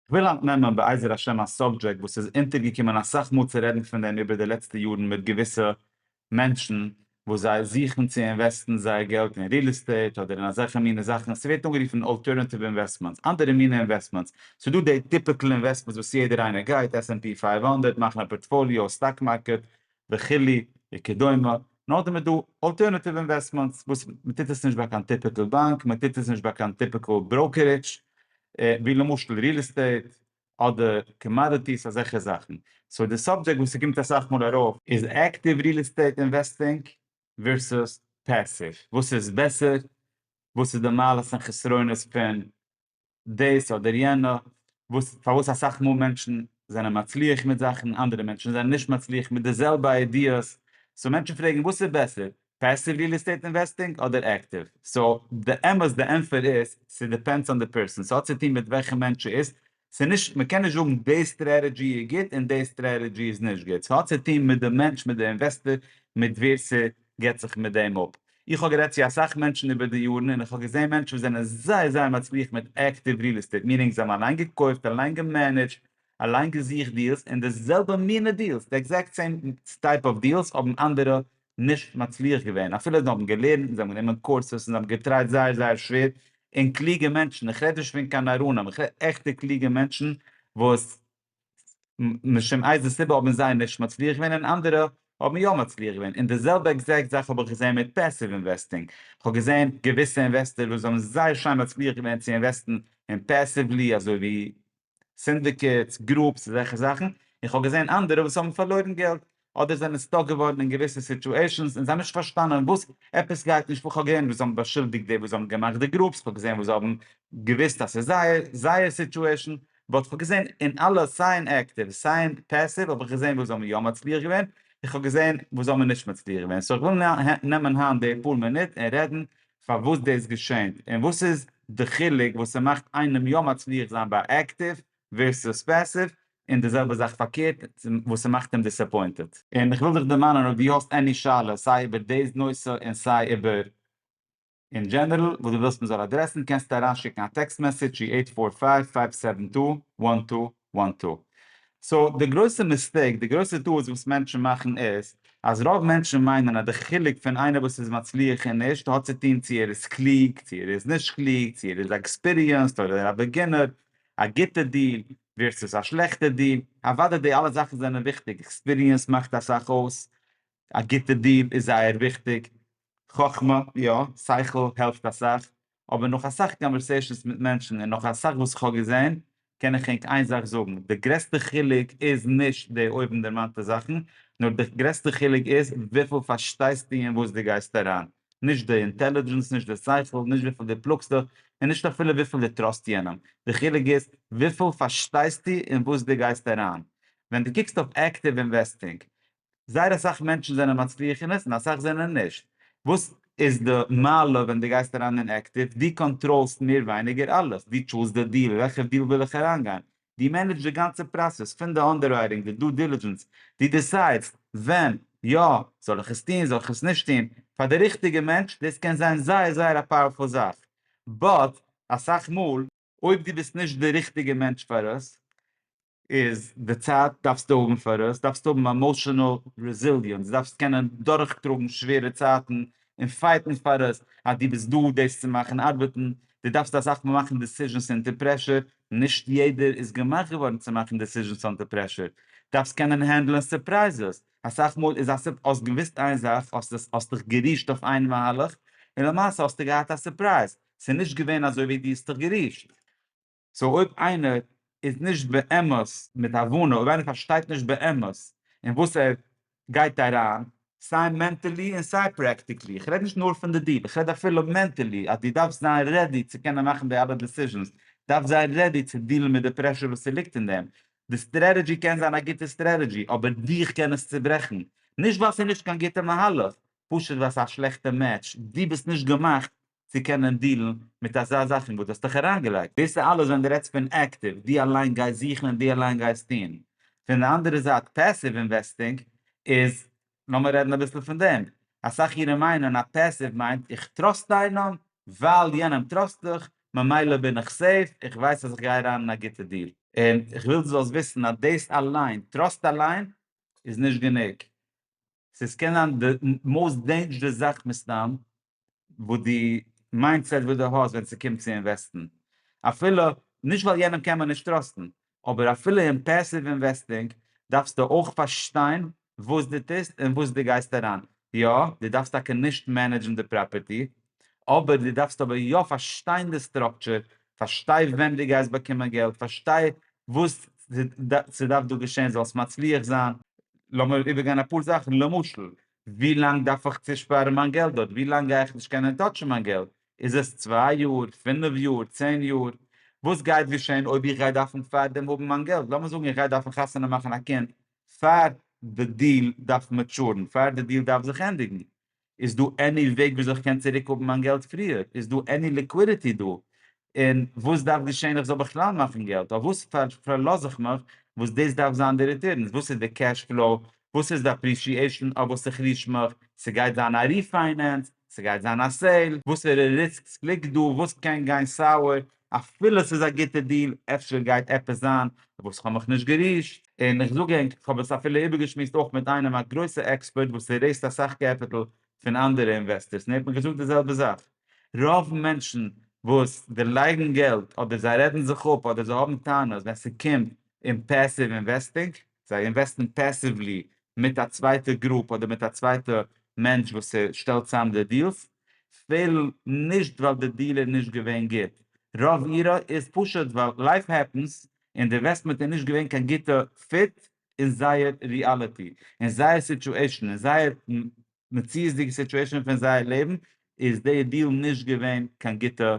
כ'וויל היינט נעמען בעזר השם א סאבדזשעקט וואס איז אונטערגעקומען אסאך מאל צו רעדן פון דעם איבער די לעצטע יארן מיט געוויסע מענטשן וואס זיי זוכן צו אינוועסטן זייער געלט אין ריעל עסטעיט אדער אין אזעלכע מינע זאכן, ס'ווערט אנגערופן אלטערנאטיוו אינוועסטמענטס, אנדערע מינע אינוועסטמענטס, ס'דא די טיפיקל אינוועסטמענטס וואס יעדער איינער גייט, עס ענד פי פֿינף הונדערט, מאכן א פארטפאליאו, סטאק מארקעט, וכולי וכדומה, נאר די מען דא אלטערנעטיוו אינוועסטמענטס וואס מען טוט עס נישט ביי קיין טיפיקעל באנק, מען טוט עס נישט ביי קיין טיפיקעל בראוקערידזש, ווי למשל ריעל עסטעיט אדער קאמאדיטיס אזעלכע זאכן, סאו די סאבדזשעקט וואס ס'קומט אסאך מאל ארויף איז עקטיוו ריעל עסטעיט אינוועסטינג ווערסוס פעסיוו, וואס איז בעסער, וואס איז די מעלות און חסרונות פון דאס אדער יענע, וואס פארוואס אסאך מאל מענטשן זענען מצליח מיט זאכן, אנדערע מענטשן זענען נישט מצליח מיט די זעלבע איידיעס, סאו מענטשן פרעגן וואס איז בעסער, פעסיוו ריעל עסטעיט אינוועסטינג אדער עקטיוו, סאו די אמת די ענטפער איז, ס'דיפענדס אן די פערסאן, ס'האט צו טון מיט וועלכע מענטש ס'איז, ס'איז נישט, מ'קען נישט זאגן די סטרעטעדזשי איז גוט און די סטרעטעדזשי איז נישט גוט, ס'האט צו טון מיט די מענטש, מיט די אינוועסטער, מיט ווער ס'געט זיך מיט דעם אפ, איך האב גערעדט צו אסאך מענטשן איבער די יארן און איך האב געזען מענטשן וואס זענען זייער זייער מצליח מיט עקטיוו ריעל עסטעיט מינינג זיי האבן אליין געקויפט אליין געמענעדזשט אליין געזוכט דיעלס און די זעלבע מינע דיעלס די עקזעקט סעים טייפ אוו דיעלס האבן אנדערע נישט מצליח געווען אפילו זיי האבן געלערנט און זיי האבן גענומען קורסעס און זיי האבן געטרייט זייער זייער שווער און קלוגע מענטשן איך רעד נישט פון קיין נאראנים איך רעד עכטע קלוגע מענטשן וואס משום איזה סיבה האבן זיי נישט מצליח געווען און אנדערע האבן יא מצליח געווען, און די זעלבע עקזעקט זאך האב איך געזען מיט פעסיוו אינוועסטינג, איך האב געזען געוויסע אינוועסטער וואס האבן זייער שיין מצליח געווען צו אינוועסטן אין פעסיוולי אזוי ווי סינדיקעטס, גרופס, אזעלכע זאכן, און איך האב געזען אנדערע וואס האבן פארלוירן געלט, אדער זענען סטאק געווארן אין געוויסע סיטועשענס און זיי האבן נישט פארשטאנען וואס עפעס גייט נישט פאר, כ'האב געזען וואס זיי האבן באשולדיגט די וואס האבן געמאכט די גרופס, כ'האב געזען וואס זיי האבן געוויסט אז ס'איז זייער זייער סיטועשען, באט כ'האב געזען אין אלע סיי אין עקטיוו סיי אין פעסיוו האב איך געזען וואס זיי האבן יא מצליח געווען, און כ'האב געזען וואס זיי האבן נישט מצליח געווען, סאו כ'וויל נעמען היינט די פאר מינוט און רעדן פארוואס דאס געשענט, און וואס איז די חילוק וואס ס'מאכט איינעם יא מצליח זיין ביי עקטיוו ווערסטו ספעסיוו, און די זעלבע זאך פארקערט וואס ס'מאכט אים דיסעפוינטעד. און כ'וויל דיך דערמאנען אויב דו האסט עני שאלות סיי איבער די נושא און סיי איבער אין דזשענערל וואס דו ווילסט מ'זאל אדרעסן קענסטו אריינשיקן א טעקסט מעסעדזש צו עיט פאר פייוו פייוו סעווען טו וואן טו וואן טו. סאו די גרויסע מיסטעיק, די גרויסע טעות וואס מענטשן מאכן איז אז רוב מענטשן מיינען אז די חילוק פון איינער וואס איז מצליח און נישט האט צו טון צו ער איז קלוג צו ער איז נישט קלוג צו ער איז עקספיריענסד אדער א בעגינער א גוטע דיל ווערסעס א שלעכטע דיל, אוודאי די אלע זאכן זענען וויכטיג, עקספיריענס מאכט אסאך אויס, א גוטע דיל איז זייער וויכטיג, חכמה, יא, שכל העלפט אסאך, אבער נאך אסאך קאנווערסעישאנס מיט מענטשן און נאך אסאך וואס איך האב געזען, קען איך ענק איין זאך זאגן, די גרעסטע חילוק איז נישט די אויבנדערמאנטע זאכן, נאר די גרעסטע חילוק איז וויפיל פארשטייסטו אין וואס דו גייסט אריין. נישט די אינטעלידזשענס, נישט די שכל, נישט וויפיל דו פלאגסט דיך, און נישט אפילו וויפיל דו טראסט יענעם. די חילוק איז וויפיל פארשטייסטו אין וואס דו גייסט אריין. ווען דו קוקסט אויף עקטיוו אינוועסטינג, זייער אסאך מענטשן זענען מצליח אין עס און אסאך זענען נישט. וואס איז די מעלה ווען דו גייסט אריין אין עקטיוו? דו קאנטראלסט מער ווייניגער אלעס. דו טשולסט די דיל, וועלכע דיל וויל איך אריינגיין? דו מענעדזשט די גאנצע פראסעס פון די אנדעררייטינג, די דו דילידזשענס, דו דיסיידסט ווען יא זאל איך עס טון זאל איך עס נישט טון, פאר די ריכטיגע מענטש דאס קען זיין זייער זייער א פאוערפול זאך, באט אסאך מאל אויב דו ביסט נישט די ריכטיגע מענטש פאר עס, איז די צייט דארפסטו האבן פאר עס, דארפסטו האבן עמאשענעל רעזיליענס, דארפסט קענען דורכטראגן שווערע צייטן און פייטן פאר עס, אז דו ביסט דא דאס צו מאכן ארבעטן, דו דארפסט אסאך מאל מאכן דיסיזשענס אונטער פרעשור, נישט יעדער איז געמאכט געווארן צו מאכן דעסיזשענס אנטער פרעשור, דארפסט קענען הענדלען סורפרייזעס, אסאך מאל איז א סופ האסט געוואוסט איין זאך האסט האסט דיך גערישט אויף איין מהלך און למעשה האסטו געהאט א סורפרייז ס'איז נישט געווען אזוי ווי דו האסט דיך גערישט. סאו אויב איינער איז נישט באמת מיט הבנה אויב איינער פארשטייט נישט באמת אין וואס ער גייט אריין סיי מענטעלי און סיי פרעקטיקלי, איך רעד נישט נאר פון די דיעל, איך רעד אפילו מענטעלי אז דו דארפסט זיין רעדי צו קענען מאכן די אלע דעסיזשענס, דארפסט זיין רעדי צו דיעלן מיט די פרעשור וואס ס'ליגט אין דעם, די סטרעטעדזשי קען זיין א גוטע סטרעטעדזשי אבער דיך קען עס צוברעכן, נישט ווייל ס'איז נישט קיין גוטע מהלך, פשוט ווייל ס'איז א שלעכטע מעטש, דו ביסט נישט געמאכט צו קענען דילן מיט אזא זאכן וואס דו האסט דיך אריינגעלייגט, דאס איז אלעס ווען דו רעדסט פון עקטיוו, דו אליין גייסט זוכן און דו אליין גייסט טון, פון די אנדערע זייט פעסיוו אינוועסטינג איז, לאמיר רעדן אביסל פון דעם, אסאך אירע מיינען אז פעסיוו מיינט איך טראסט איינעם, ווייל יענעם טראסט איך, ממילא בין איך סעיף, איך ווייס אז איך גיי אריין אין א גוטע דיל. און איך וויל דו זאלסט וויסן אז דאס אליין, טראסט אליין, איז נישט גענוג, ס'איז קען זיין די מאוסט דעינדזשערעס זאך מסתם, וואס די מיינדסעט וואס די האסט ווען ס'קומט צו אינוועסטן, אפילו נישט ווייל יענעם קען מען נישט טראסטן, אבער אפילו אין פעסיוו אינוועסטינג דארפסטו אויך פארשטיין וואס דו טוסט און וואס דו גייסט אריין, יא, דו דארפסט טאקע נישט מענעדזשן די פראפערטי, אבער דו דארפסט אבער יא פארשטיין די סטראקטשער, פארשטיי ווען דו גייסט באקומען געלט, פארשטיי וואס ס'דארף דא געשען זאלסט מצליח זיין. לאמיר איבערגיין אפאר זאכן, למשל, ווי לאנג דארף איך צושפארן מיין געלט דארט? ווי לאנג גיי איך נישט קענען טאטשן מיין געלט? איז עס צוויי יאר? פינף יאר? צען יאר? וואס גייט געשען אויב איך גיי דארפן פארדעם האבן מיין געלט? לאמיר זאגן איך גיי דארפן חתונה מאכן א קינד פאר די דיעל דארף מעטשורן, פאר די דיעל דארף זיך ענדיגן, איז דא עני וועג וויאזוי איך קען צוריק האבן מיין געלט פריער? איז דא עני ליקווידיטי דא? און וואס דארף געשען איך זאל בכלל מאכן געלט? אויף וואס פארלאז איך מיך וואס דאס דארף זיין די ריטורנס? וואס איז די קעש פלאו? וואס איז די אפרישיעישאן אויף וואס איך ריש מיך? ס'גייט זיין א ריפיינענס? ס'גייט זיין א סעיל? וואסערע ריסקס ליגט דא? וואס קען גיין סאוער? אפילו ס'איז א גוטע דיל, אפשר גייט עפעס זיין אויף וואס כ'האב מיך נישט גערישט? און איך זאג ענק, כ'האב עס אפילו איבערגעשמועסט אויך מיט איינעם א גרויסע עקספערט וואס רעיזט אסאך קעפיטל פון אנדערע אינוועסטערס און ער האט מיר געזאגט די זעלבע זאך. רוב מענטשן וואס דערלייגן געלט אדער זיי רעדן זיך אפ אדער זיי האבן טענות ווען ס'קומט אין פעסיוו אינוועסטינג, זיי אינוועסטן פעסיוולי מיט א צווייטע גרופ אדער מיט א צווייטע מענטש וואס שטעלט צוזאם די דיעלס, פעלן נישט ווייל די דיעל איז נישט געווען גוט, רוב אירע איז פשוט ווייל לייף העפענס און די אינוועסטמענט איז נישט געווען קיין גוטע פיט אין זייער ריאליטי, אין זייער סיטועשן, אין זייער מציאות'דיגע סיטועשאן פון זייער לעבן איז די דיעל נישט געווען קיין גוטע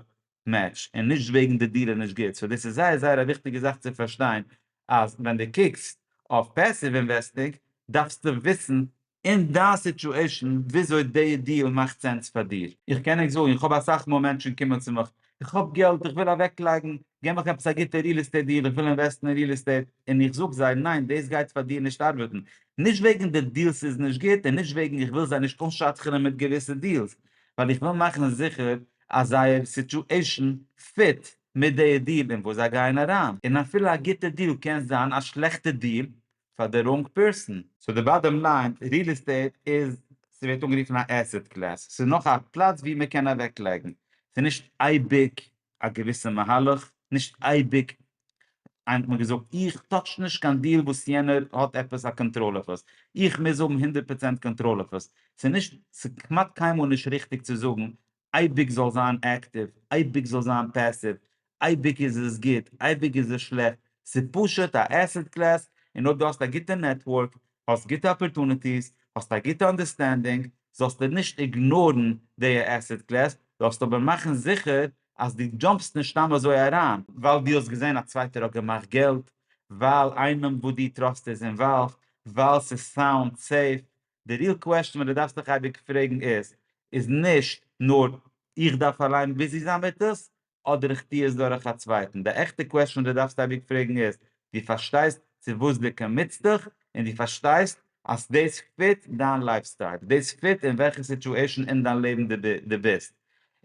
מעטש און נישט וועגן די דיעל איז נישט גוט סאו דאס איז זייער זייער א וויכטיגע זאך צו פארשטיין אז ווען די קוקסט אויף פעסיוו אינוועסטינג דארפסטו וויסן אין דיין סיטועשאן וויאזוי די דיעל מאכט סענס פאר דיר. איך קען ענק זאגן איך האב אסאך מאל מענטשן קומען צו מיך איך האב געלט איך וויל אוועק לייגן, געב מיך עפעס א גוטע ריעל עסטעיט דיעל איך וויל אינוועסטן אין ריעל עסטעיט, און איך זאג זיי ניין דאס גייט פאר דיר נישט ארבעטן, נישט וועגן די דיעלס איז נישט גוט און נישט וועגן איך וויל זיי נישט אנשדכנ'ען מיט געוויסע דיעלס, ווייל איך וויל מאכן זיכער אז זייער סיטועישן פיט מיט די דיעל אין וואס זיי גייען אריין, און אפילו א גוטע דיעל קען זיין א שלעכטע דיעל, פאר די ראנג פערסאן. סאו די באדעם ליין, ריעל עסטעיט איז, ס'ווערט אנגערופן א עסעט קלעס, ס'איז נאך א פלאץ ווי מ'קען אוועק לייגן, ס'איז נישט אייביג א געוויסע מהלך, נישט אייביג, איינער האט מיר געזאגט איך טאטש נישט קיין דיעל וואס יענער האט עפעס א קאנטראל אויף עס, איך מוז האבן הונדערט פראצענט קאנטראל אויף עס, ס'איז נישט, ס'איז כמעט קיינמאל נישט ריכטיג צו זאגן אייביג זאל זיין עקטיוו, אייביג זאל זיין פעסיוו, אייביג איז עס גוט, אייביג איז עס שלעכט, ס'איז פשוט א עסעט קלעס, און אויב דו האסט א גוטע נעטווארק, האסט גוטע אפערטוניטיס, האסט א גוטע אנדערסטענדינג, זאלסטו נישט איגנארן די עסעט קלעס, זאלסט אבער מאכן זיכער אז דו דזשאמפסט נישט סתם אזוי אריין, ווייל דו האסט געזען א צווייטער האט געמאכט געלט, ווייל איינעם וואס דו טראסט איז אינוואלווד, ווייל ס'איז סאונד סעיף, די ריעל קוועסטשען וואס די דארפסט דיך אייביג פרעגן איז, איז נישט נאר איך דארף אליין ביזי זיין מיט עס, אדער איך טו עס דורך א צווייטן. די עכטע קוועסטשען וואס די דארפסט אייביג פרעגן איז, דו פארשטייסט צו וואס דו קאמיטסט דיך, און דו פארשטייסט אז דאס פיט דיין לייף סטייל, דאס פיט אין וועלכע סיטואשען אין דיין לעבן דו ביסט,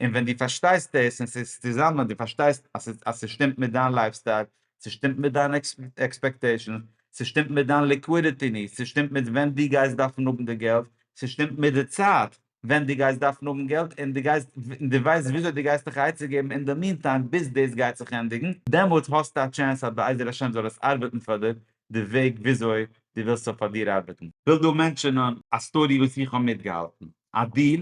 און ווען דו פארשטייסט דאס און ס'איז צוזאמען, דו פארשטייסט אז ס'שטימט מיט דיין לייף סטייל, ס'שטימט מיט דיין עקספעקטעישאנס, ס'שטימט מיט דיין ליקווידיטי נידס, ס'שטימט מיט ווען דו גייסט דארפן האבן די געלט, ס'שטימט מיט די צייט ווען דו גייסט דארפן האבן געלט, און דו גייסט, און דו ווייסט וויאזוי דו גייסט דיך א עצה געבן אין די מיענטיים ביז דאס גייט זיך ענדיגן, דעמאלטס האסטו א טשענס אז בעזר השם זאל עס ארבעטן פאר דיר די וועג וויאזוי דו ווילסט ס'זאל פאר דיר ארבעטן. כ'וויל דא מענטשענען א סטארי וואס איך האב מיטגעהאלטן. א דיל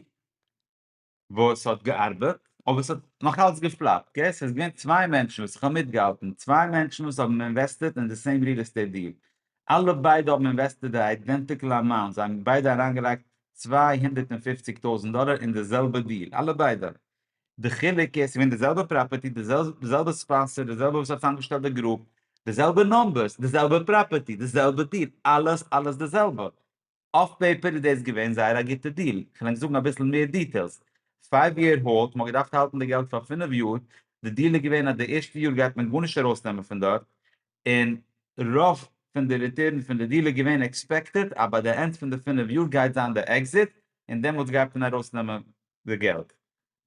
וואס האט געארבעט אבער עס האט נאך אלץ געפלאפט אקעי סאיז געווען צוויי מענטשן וואס איך האב מיטגעהאלטן צוויי מענטשן וואס האבן אינוועסטעט אין די סעים ריעל עסטעיט דיעל אלע ביידע האבן אינוועסטעט די איידענטיקעל אמאונט זיי האבן ביידע אריינגעלייגט צוויי הונדערט און פופציג טויזענט דאלער אין די זעלבע דיעל אלע ביידע די חילוק איז סגעווען די זעלבע פראפערטי די זעלבע ספאנסער די זעלבע וואס האט צאמגעשטעלט די גרופ די זעלבע נומבערס די זעלבע פראפערטי די זעלבע דיעל אלעס אלעס די זעלבע אויף פעיפער איז דאס געווען זייער א גוטע דיל, כ'על ענק זאגן אביסל מער דיטעילס, פייוו יער האלד, מ'האט געדארפט האלטן די געלט פאר פינף יאר, די דיל איז געווען אז די ערשטע יאר גייט מען גארנישט ארויסנעמען פון דארט, און רוב פון די ריטערן פון די דיל איז געווען עקספעקטעד אז ביי די ענד פון די פינף יאר גייט זיין די עקזיט, און דעמאלטס גייט מען ארויסנעמען די געלט.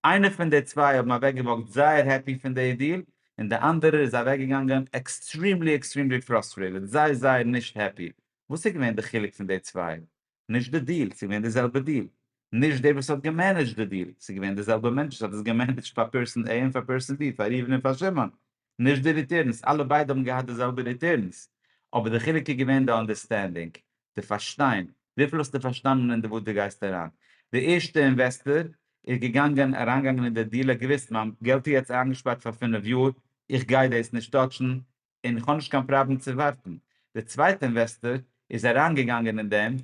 איינער פון די צוויי האבן אוועקגעוואקט זייער העפי פון די דיל, און די אנדערער איז אוועקגעגאנגען עקסטרימלי עקסטרימלי פראסטרעיטעד, זייער זייער נישט העפי, וואס איז געווען די חילוק פון די צוויי? נישט די דיעל, ס'איז געווען די זעלבע דיעל. נישט דער וואס האט געמענעדזשט די דיעל, ס'איז געווען די זעלבע מענטש וואס האט עס געמענעדזשט פאר פערסאן עי און פאר פערסאן בי, פאר ראובן און פאר שמעון. נישט די ריטורנס, אלע ביידע האבן געהאט די זעלבע ריטורנס. אבער די חילוק איז געווען די אנדערסטענדינג, די פארשטיין. וויפיל האסטו פארשטאנען אין די וואס דו גייסט אריין. די ערשטע אינוועסטער איז געגאנגען, אריינגעגאנגען אין די דיעל, ער האט געוויסט מיין געלט איז יעצט איינגעשפארט פאר פינף יאר, איך גיי דאס נישט טאטשן, און איך האב נישט קיין פראבלעם צו ווארטן. די צווייטע אינוועסטאר איז אריינגעגאנגען אין דעם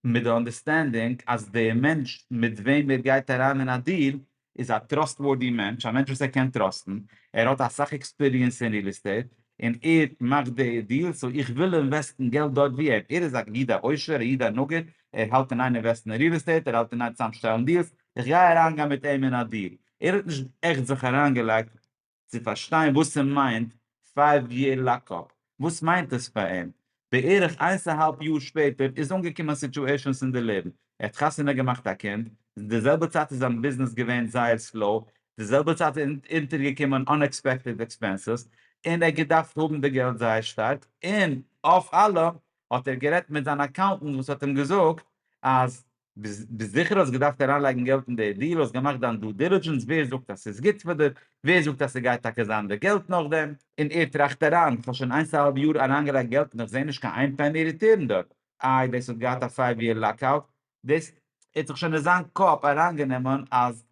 מיט די אנדערסטענדינג אז די מענטש מיט וועם ער גייט אריין אין א דיעל איז א טראסטווארדי מענטש, א מענטש וואס ער קען טראסטן, ער האט אסאך עקספיריענס אין ריעל עסטעיט און ער מאכט די דיעלס, סאו איך וויל אינוועסטן געלט דארט ווי אים, ער איז א איד א עושר, א איד א נגיד, ער האלט אין איין אינוועסטן אין ריעל עסטעיט, ער האלט אין איין צוזאמשטעלן דיעלס, איך גיי אריינגיין מיט אים אין א דיעל, ער האט נישט עכט זיך אריינגעלייגט. צו פארשטיין וואס ס'מיינט פייוו יער לאקאפ, וואס מיינט עס פאר אים? בערך איינס א האלב יאר שפעטער איז אנגעקומען סיטועשענס אין די לעבן, ער האט חתונה געמאכט א קינד, די זעלבע צייט איז זיין ביזנעס געווען זייער סלאו, די זעלבע צייט איז אונטערגעקומען אנעקספעקטעד עקספענסעס, און ער האט געדארפט האבן די געלט זייער שטארק, און אויף אלעם האט ער גערעדט מיט זיין אקאונטענט וואס האט אים געזאגט אז ביסט זיכער האסט געדארפט אריינלייגן געלט אין די דיעל, האסט געמאכט דיין דו דילידזשענס, ווער זאגט אז ס'איז גוט פאר דיר, ווער זאגט אז ס'גייט טאקע זיין די געלט נאכדעם. און ער טראכט אריין, איך האב שוין איינס א האלב יאר אריינגעלייגט געלט און איך זעה נישט קיין איין פעני ריטורן דארט, איי דאס האט געהאט א פייוו יער לאקאוט, דאס האט זיך שוין אין זיין קאפ אריינגענומען אז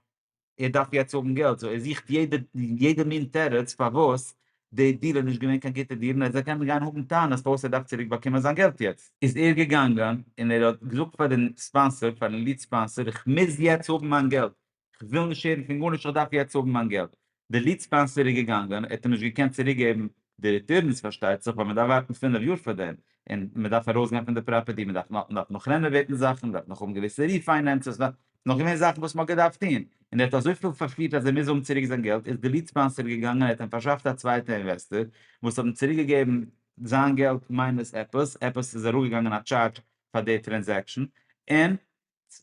ער דארף יעצט האבן געלט, סאו ער זוכט יעדע יעדע מין תירוץ פארוואס די דיל איז נישט געווען קיין גוטע דיל, און ער קען גיין האבן טענות פארוואס ער דארף צוריק באקומען זיין געלט יעצט. איז ער געגאנגען און ער האט געזאגט פאר דעם ספאנסער, פארן ליד ספאנסער, איך מוז יעצט האבן מיין געלט, איך וויל נישט הערן פון גארנישט, איך דארף יעצט האבן מיין געלט. די ליד ספאנסער איז געגאנגען, ער האט אים נישט געקענט צוריק געבן די ריטורנס פארשטייט זיך ווייל מען דארף ווארטן פֿינף יאר פאר דעם, און מען דארף ארויס גיין פון די פראפערטי, מען דארף נאך מען דארף נאך רענאוועטן זאכן, מען דארף נאך האבן געוויסע ריפיינענסעס, ס'איז נאך געווען זאכן וואס מען האט געדארפט טון, און ער האט אזויפיל פארפירט אז ער מוז האבן צוריק זיין געלט, איז די ליד ספאנסער געגאנגען ער האט אים פארשאפט א צווייטע אינוועסטער וואס האט אים צוריק געגעבן זיין געלט מיינוס עפעס, עפעס איז אראפגעגאנגען א טשארדזש פאר די טרענזעקשן, און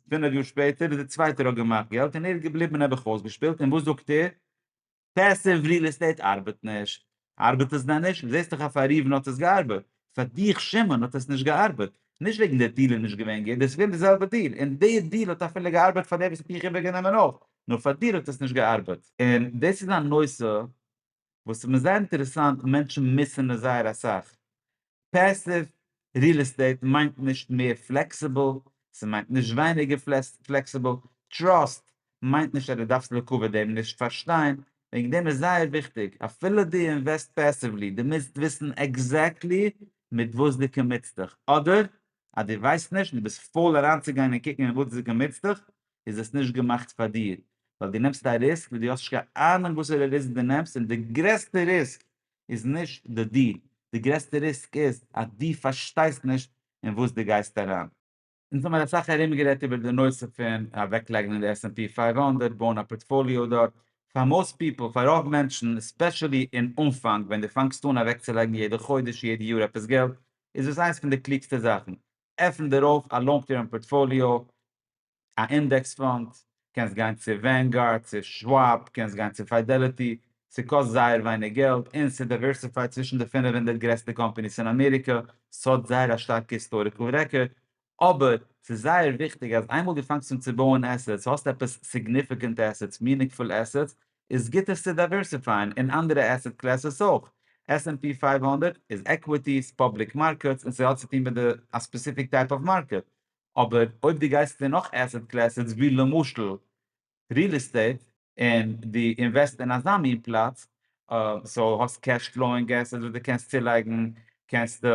פינף יאר שפעטער איז דער צווייטער האט געמאכט געלט און ער איז געבליבן נעבעך אויסגעשפילט און וואס זאגט ער? פעסיוו ריעל עסטעיט ארבעט נישט. ארבעט עס דען נישט? זעסט דאך אז פאר ראובן האט עס געארבעט. פאר דיך שמעון האט עס נישט געארבעט. נישט וועגן דער דיל איז נישט געווען גוט, דאס איז געווען די זעלבע דיל, און די דיל האט אפילו געארבעט פאר דער וואס האט מיך איבערגענומען אויך, נאר פאר דיר האט עס נישט געארבעט. און דאס איז א נושא וואס איז מיר זייער אינטערעסאנט מענטשן מוסר'ן עס זייער אסאך, פעסיוו ריעל עסטעיט מיינט נישט מער פלעקסיבל, ס'מיינט נישט ווייניגער פלעקסיבל, טראסט מיינט נישט אז דו דארפסט לעיקוואד דעם נישט פארשטיין, וועגן דעם איז זייער וויכטיג אפילו דו אינוועסט פעסיוולי דו מוזט וויסן עקזעקטלי מיט וואס דו קאמיטסט דיך, אדער אז דו ווייסט נישט און דו ביסט פויל אריינצוגיין און קוקן אין וואס דו קאמיטסט דיך, איז עס נישט געמאכט פאר דיר, ווייל דו נעמסט א ריסק וואס דו האסט נישט קיין אהנונג וואסערע ריסק דו נעמסט, און די גרעסטע ריסק איז נישט די דיל, די גרעסטע ריסק איז אז דו פארשטייסט נישט אין וואס דו גייסט אריין. אונז האמיר אסאך ארומגערעדט איבער די נושא פון אוועקלייגן אין די עס ענד פי פֿינף הונדערט, בויען א פארטפאליאו דארט, פאר מאוסט פיפל, פאר רוב מענטשן, עספעשעלי אין אנפאנג ווען דו פאנגסט אן אוועקצולייגן יעדע חודש, יעדע יאר עפעס געלט, איז דאס איינס פון די קלוגסטע זאכן, עפן דיר אויף א לאנג טערם פארטפאליאו, א אינדעקס פאנד, קענסט גיין צו ווענגארד, צו שוואב, קענסט גיין צו פיידעליטי, ס'קאסט זייער ווייניג געלט, און ס'איז דייווערסיפייד צווישן די פֿינף הונדערט גרעסטע קאמפאניס אין אמעריקע, ס'האט זייער א שטארקע היסטאריקעל רעקארד, אבער ס'איז זייער וויכטיג אז איינמאל דו פאנגסט אן צו בויען עסעטס, האסט עפעס סיגניפיקענט עסעטס, מינינגפול עסעטס, איז גוט עס צו דייווערסיפייען אין אנדערע עסעט קלעסעס אויך, עס ענד פי פֿינף הונדערט איז עקוויטיס, פובליק מארקעטס, און ס'האט צו טון מיט די א ספעסיפיק טייפ אוו מארקעט, אבער אויב דו גייסט אין נאך עסעט קלעסעס ווי למשל ריעל עסטעיט און דו אינוועסט אין אזא מין פלאץ סאו האסט קעש פלאוינג עסעטס וואס דו קענסט צולייגן קענסטו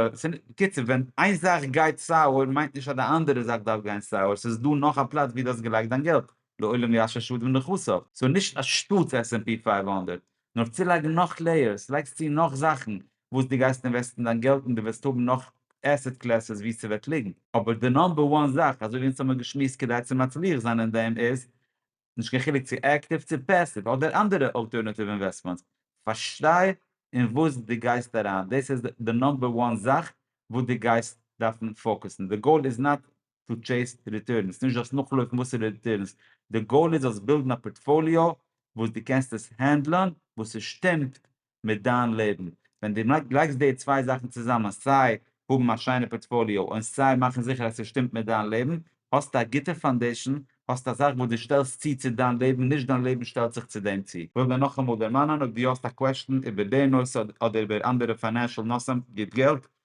בקיצור ווען איין זאך גייט סאוער מיינט נישט אז די אנדערע זאך דארף גיין סאוער סאיז דא נאך א פלאץ ווי דו האסט געלייגט דיין געלט לעולם ישוב שדים נכסיו סאו נישט א שטאטס עס ענד פי פֿינף הונדערט נאר צולייגן נאך לעיערס, לייגסט צו נאך זאכן וואס דו גייסט אינוועסטן דיין געלט און דו וועסט האבן נאך עסעט קלעסעס וואו ס'וועט ליגן, אבער די נאמבער וואן זאך, אזוי ווי אונז האמיר געשמועסט כדי צו מצליח זיין אין דעם איז, נישט קיין חילוק צו עקטיוו צו פעסיוו אדער אנדערע אלטערנאטיוו אינוועסטמענטס, פארשטיי אין וואס דו גייסט אריין, דאס איז די נאמבער וואן זאך וואס דו גייסט דארפן פאוקוסן, די גאול איז נאט צו טשעיס ריטורנס, נישט דאס נאכלויפן וואסערע ריטורנס, די גאול איז אז בילדן א פארטפאליאו וואס די קענסט עס הענדלען וואס עס שטימט מיט דיין לעבן, ווען די לייגסט די צוויי זאכן צוזאמען סיי האבן א שיינע פארטפאליאו און סיי מאכן זיכער אז עס שטימט מיט דיין לעבן, האסטו א גוטע פאנדעישן, האסט א זאך וואס די שטעלסט צו צו דיין לעבן נישט דיין לעבן שטעלט זיך צו דעם צו. כ'וויל דיר נאכאמאל דערמאנען אויב די האסט א קוועשטן איבער די נושא אדער איבער אנדערע פיינענשעל נושאים גיב געלט